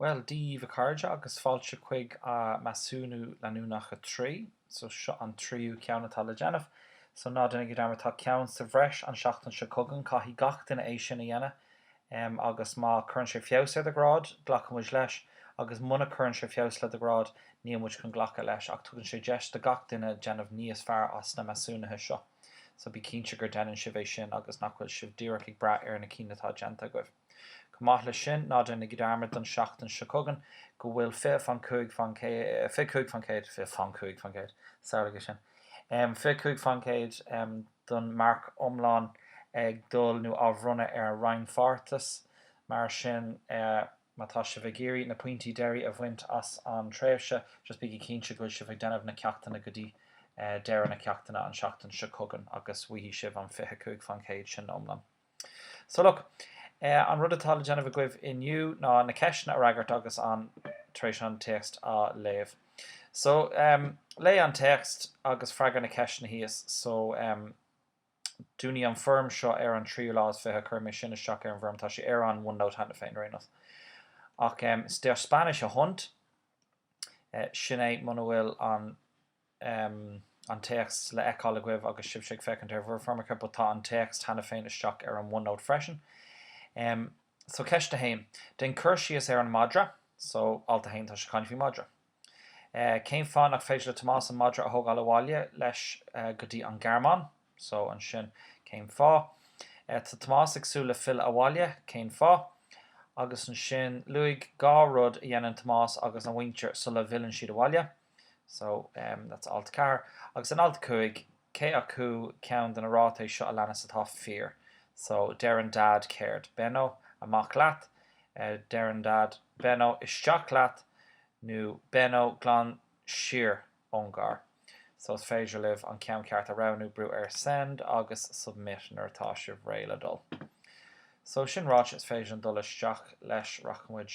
Bhuel, Dia daoibh a chairde agus fáilte chuig Measúnú Leanúnach a 3. So, seo an tríú ceann atá le déanamh. So, ná déanaigí dearmad, tá ceann sa bhreis an seachtain seo chugainn. Caithfidh gach duine é sin a dhéanamh. Em, agus má chuireann sé feabhas ar do ghrád, glacfaidh muid leis, agus muna gcuireann sé feabhas le do ghrád, níl muid chun glacadh leis, ach tugann sé deis do gach duine déanamh níos fearr as na measúnuithe seo. so bí cinnte gur déanann sibh é sin agus nach bhfuil sibh díreach ag brath ar na cinn atá déanta agaibh. Chomh maith leis sin, ná déanaigí dearmad don seachtain seo chugainn go bhfuil fiche faoin cúig faoin chéad, fiche cúig faoin chéad, fiche faoin cúig faoin chéad, samhlaígí sin, fiche cúig faoin chéad don marc iomlán ag dul nó á bhronnadh ar an rannpháirteachas, mar sin. Má tá sibh ag iarraidh na pointí deiridh a bhaint as an tréimhse, just bígí cinnte go bhfuil sibh ag déanamh na ceachtanna go dtí deireadh na ceachta an seachtain seo chugainn agus go bhfaighidh sibh an fiche cúig faoin chéad sin iomlán. So look, an rud atá le déanamh agaibh inniu ná na ceisteanna a fhreagairt agus an tar éis an téacs a léamh. So, léigh an téacs agus freagair na ceisteanna thíos. So, um. Dúnfaidh an foirm seo ar an tríú lá is fiche. Cuirfidh mé é sin isteach ar an bhfoirm, tá sé ar an OneNote cheana féin, ar aon nós. Ach is deir Spanish a hunt, sin é muna bhfuil an an téacs le fheiceáil agaibh agus sibhse ag féachaint ar bhur bhfoirmeacha, but tá an téacs cheana féin isteach ar an OneNote freisin. So ceist a haon, déan cur síos ar an madra, so alt a haon, tá sé ag caint faoi madra. Cén fáth nach féidir le Tomás an madra a thógáil abhaile leis go dtí an Ghearmáin? So, ansin, cén fáth? Tá Tomás ag súil le filleadh abhaile. Cén fáth? Agus ansin, luaigh dhá rud a dhéanann Tomás agus a mhuintir sula bhfilleann siad abhaile. So, that's alt 4. Agus in alt 5. cé acu ceann de na ráitis seo a leanas atá fíor so deireann Dad céard? Benno, amach leat! deireann Dad, Benno, isteach leat! nó Benno, glan siar ón gcarr! so is féidir libh an ceann ceart a roghnú brú ar Send agus Submit nuair atá sibh réidh le dul. so sin ráite is féidir linn dul isteach leis rachaidh muid.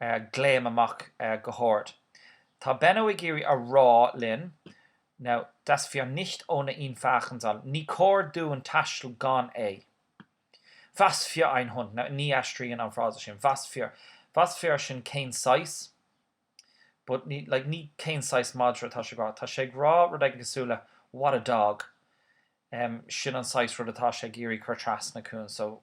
glaoim amach go hard. Tá Benno ag iarraidh a rá linn Now, dass wir nicht ohne ihn fahren sollen, Ní cóir dúinn taisteal gan é. Was für ein Hund! Now, ní aistríonn an frása sin was für. Was für sin cén saghas. But ní, like, ní cén saghas madra atá sé ag rá. Tá sé ag rá rud éigin cosúil le What a dog! Sin an saghas rud atá sé ag iarraidh a chur trasna chugainn. So.